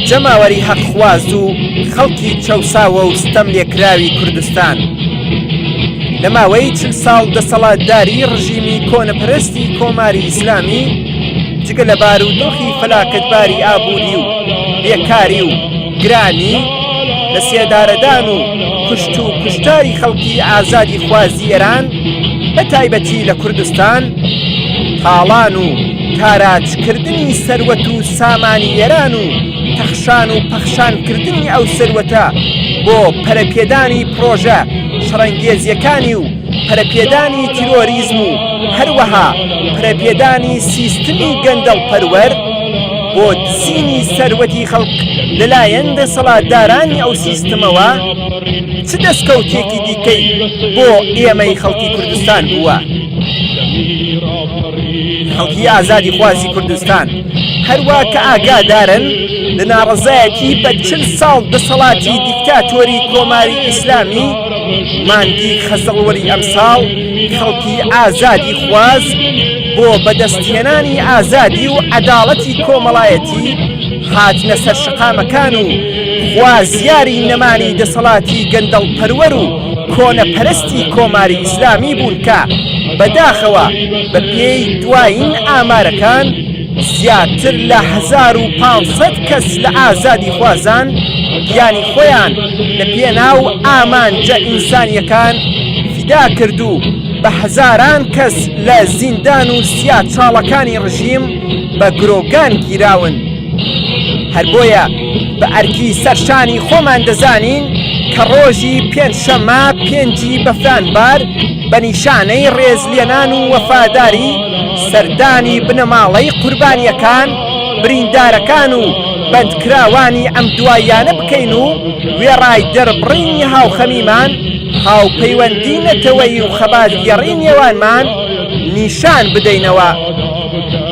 جەماوەری هەقخواز و خەڵکی چەوساوە و ستەم لێکراوی کوردستان لە ماوەی چل ساڵ دەسەڵاتداری ڕژیمی کۆنەپەرستی کۆماری ئیسلامی جگە لە بارودۆخی فەلاکەتباری ئابووری و بێکاری و گرانی لە سێدارەدان و کوشت و کوشتاری خەڵکی ئازادی خوازی ئێران بە تایبەتی لە کوردستان تاڵان و تاراجکردنی سەروەت و سامانی ئێران و تەخشان و پەخشانکردنی ئەو سەروەتە بۆ پەرەپێدانی پڕۆژە شەڕەنگێزیەکانی و پەرەپێدانی تیرۆریزم و هەروەها پەرەپێدانی سیستمی گەندەڵ پەروەر بۆ دزینی سەروەتی خەڵک لەلایەن دەسەڵاتدارانی ئەو سیستمەوە چ دەستکەوتێکی دیکەی بۆ ئێمەی خەڵکی کوردستان بووە؟ خەڵکی ئازادی خوازی کوردستان هەروە کە ئاگادارن لە ناڕزایەتی بە چل ساڵ دەسەڵاتی دیکتاتۆری کۆماری ئیسلامی مانگی خەزەڵوەری ئەمساڵ خەڵکی ئازادی خواز بۆ بەدەستهێنانی ئازادی و عەداڵەتی کۆمەڵایەتی هاتنە سەر شقامەکان و خوازیاری نەمانی دەسەڵاتی گەندەڵ پەروەر و کۆنە پەرستی کۆماری ئیسلامی بوون کە بە داخەوە بە پێی دوایین ئامارەکان زیاتر لە هەزار و پانج سەد کەس لە ئازادی خوازان گیانی خۆیان لە پێناو ئامانجە ئینسانیەکان فیدا کرد و بە هەزاران کەس لە زیندان و سیا چاڵەکانی ڕژیم بە گرۆگان گیراون. هەر بۆیە بە ئەرکی سەر شانی خۆمان دەزانین کە ڕۆژی پێنج شەممە پێنجی بەفرانبار بە نیشانەی ڕێزلێنان و وەفاداری سەردانی بنەماڵەی قوربانیەکان بریندارەکان و بەندکراوانی ئەم دواییانە بکەین و وێڕای دەربڕینی هاوخەمیمان هاوپەیوەندی نەتەوەیی و خەباتگێڕی نێوانمان نیشان بدەینەوە.